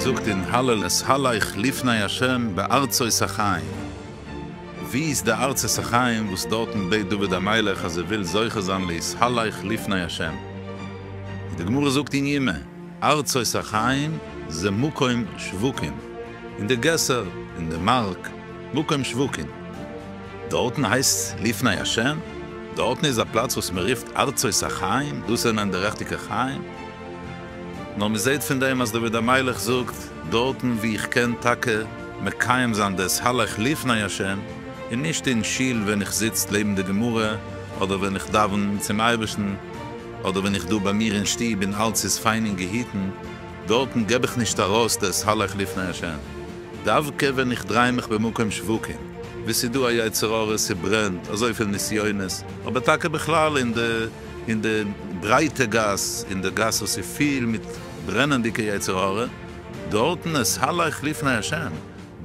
זאגט אין הלל אשאלייך לפני ה' בארצות החיים, ווי איז די ארצות החיים וואס דארטן בעט דוד המלך אז ער וויל זוכה זיין לאשאלייך לפני ה'? און די גמרא זאגט אין ימ, ארצות החיים זה מקום שווקים. אין די געסער, אין די מאַרק, מקום שבוקין. דאָרטן הײסט לפּני השם, דאָרטן איז אַ פּלאַץ װאָס מע רופֿט ארצות החײם, דאָס זענען די ריכטיקע חײם. נאָר מע זעט פֿון דעם, אַז דוד המלך זאָגט, דאָרטן װוּ איך קען טאַקע מקיים זײַן דאָס הלך לפּני השם, און נישט אין שול װען איך זיץ לעבן די גמרא, אָדער װען איך דאַװן צום אײבערשטן, אָדער װען איך דאָ בײַ מיר אין שטוב און אַלץ איז פֿײַן און געהיטן. דארטן געב איך נישט ארויס דאס הלך לפני השם, דווקא ווען איך דריי מיך במקום שווקים, ווי ס'איז דא א יצר הרע, ס'ברענט, אזויפיל נסיונות, אבער טאקע בכלל אין די אין די ברייטע גאס, אין די גאס וואס איז פיל מיט ברענענדיגע יצר הרע, דארטן עס הלך לפני השם,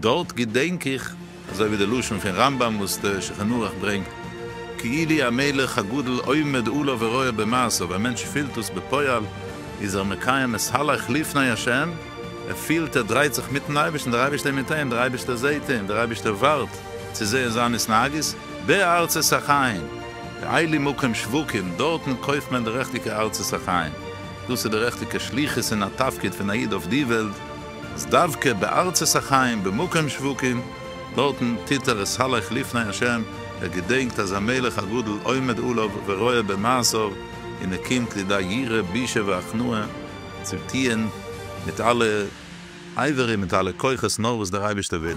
דארט געדענק איך. אזוי ווי די לשון פון רמב ם וואס דער שולחן ערוך ברענגט, כאילי המלך הגדול עומד עליו ורואה במעשיו, א מענטש פילט דאס בפועל, איז ער מקיים את הלך לפני השם, ער פילט ער דרייט זיך מיטן אייבערשטן, דער אייבערשטער איז מיט אים, דער אייבערשטער זעט אים, דער אייבערשטער ווארט צו זען זיין התנהגות, בארצות החיים, כאילי מקום שווקים, דארטן קויפט מען די רעכטיגע ארצות החיים, דאס איז די רעכטיגע שליחות און א תפקיד פון א איד אויף די וועלט, אז דווקא בארצות החיים במקום שבוקין דארטן טוט ער עס סלח לפני השם, ער געדענקט אז המלך הגדול עומד עליו ורואה במעשיו און ער קומט לידי יראה בושה והכנעה צו טוען מיט אלע אייווער און מיט אלע כוחות נאר וואס דער אייבערשטער וויל.